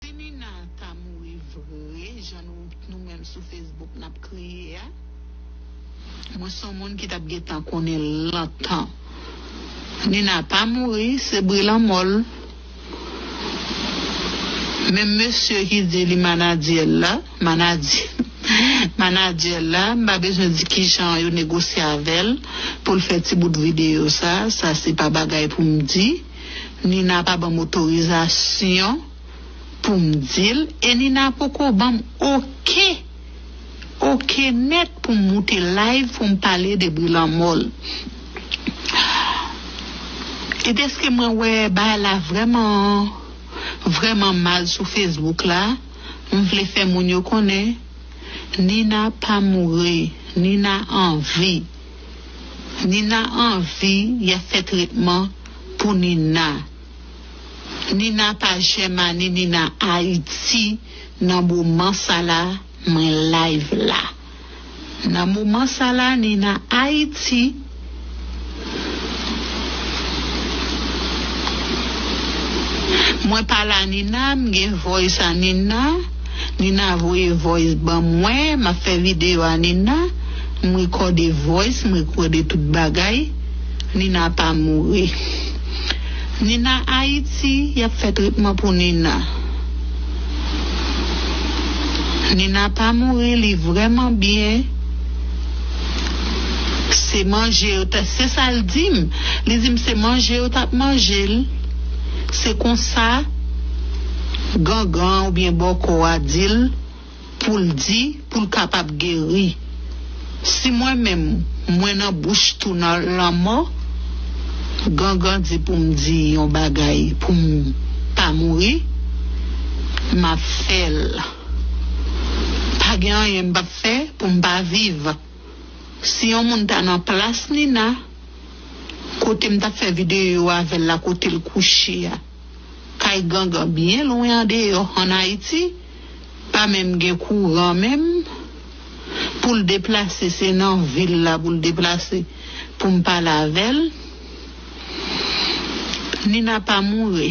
Si Nina ta mouri vre jan nou nou menm sou Facebook nap kriye a mwen son moun ki tap gentan konnen lontan Nina pa mouri se bri lanmò l menm mesye ki di li manadyèl la manadyè manadyèl la m pa bezwen di kijan yo negosye avèl poul fè ti bout video sa sa se pa bagay poum di. Nina pa banm otorizasyon poum dil e Nina poko banm ok ok nèt poum moute live poum pale de bri lanmòl e deske mwen wè bagay la vrèman vrèman mal sou Facebook la m vle fè moun yo konnen Nina pa mouri Nina anvi. Nina anvi yap fè tretman pou Nina Nina pa jèmani Nina ayiti nan moman sa la mwen live la nan moman sa la Nina ayiti mwen pa la Nina m gen voice a Nina. Nina voye voice ban mwen map fè video a Nina m rekòde voice m rekòde tout bagay Nina pa mouri Nina Haïti yap fè tretman pou Nina Nina pa mouri li vrèman byen se manje yo tap se sal dim li dim se manje yo tap manjel se konsa. Gangan an oubyen bòkò a di l pou l di pou l kapab geri. Si mwen menm mwen nan bouch tou nan lanmò, Gangan di pou m di yon bagay pou m pa mouri, m ap fè l. Pa gen anyen m pap fè pou m pa viv. Si yon moun ta nan plas Nina, kote m t ap fè videyo avè l la, kote l kouche a. Kay gangan byen lwen andeyò an Ayiti pa menm gen kouran menm poul deplase se nan vil la poul deplase poum pale avèl Nina pa mouri.